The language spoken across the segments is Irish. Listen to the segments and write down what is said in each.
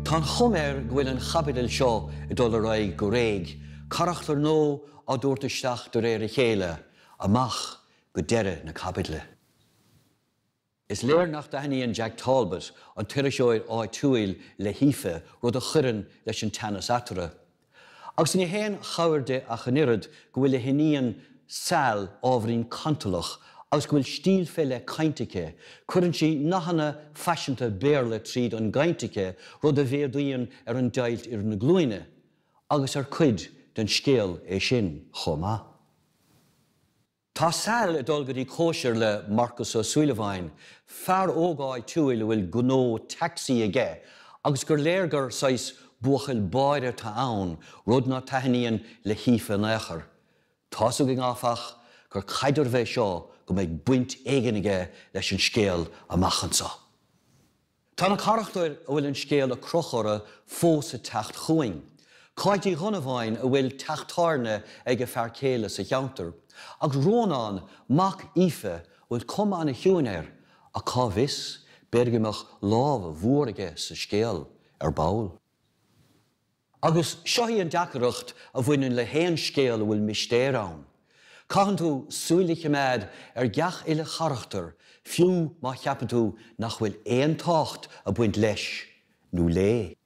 Tá an chuma air go bhfuil an chaibidil seo ag dul ar aghaidh go réidh, carachtair nua á dtabhairt isteach de réir a chéile, amach go deireadh na caibidle. Is léir nach dtaitníonn Jack Talbot, an tuairisceoir áitiúil, le hAoife, rud a chuireann leis an teannas eatarthu. Agus ní haon chabhair di ach an oiread go bhfuil a hiníon, Sal, ábhairín cantalach agus go bhfuil stíl fé leith cainte aici, cuireann sí nathanna faiseanta Béarla tríd an gcaint aici rud a mhéadaíonn ar an deighilt idir na glúine, agus ar cuid den scéal é sin chomh maith. Tá Sal ag dul go dtí cóisir le Marcus Ó Súilleabháin, fear óg áitiúil a bhfuil gnó taxi aige agus gur léir gur saghas buachaill báire atá ann, rud ná taitníonn le hAoife in aon chor. Tá's againn, áfach, gur caidreamh é seo go mbeidh baint éigin aige leis an scéal amach anseo. Tá na carachtair a bhfuil an scéal ag crochadh orthu fós ag teacht chugainn, Cáit Uí Dhonnabháin a bhfuil teach tábhairne ag a fear céile sa cheantar, agus Rónán, mac Aoife, a bhfuil cuma ana-chiúin air ach cá bhfios, b'fhéidir go mbeadh lámh mhór aige sa scéal ar ball. Agus seo í an deacaireacht a bhaineann le haon scéal a bhfuil mistéir ann. Caitheann tú súil a chimeád ar geach uile charachtar fiú má cheapann tú nach bhfuil aon tábhacht ag baint leis nó léi.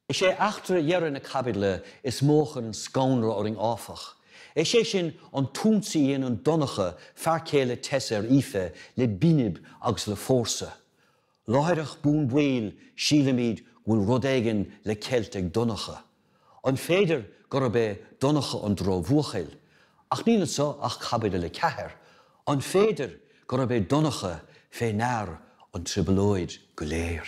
Is é eachtra dheireadh na caibidle is mó a chuireann scannradh orainn áfach. Is é sin an t-ionsaí a dhéanann Donncha, fear céile Tess ar Aoife le binib agus le fórsa. Láithreach bonn baill sílimid go bhfuil rud éigin le ceilt ag Donncha. An féidir gurb é Donncha an drochbhuachaill? Ach níl anseo ach caibidil a ceathair. An féidir gurb é Donncha fé ndear an trioblóid go léir?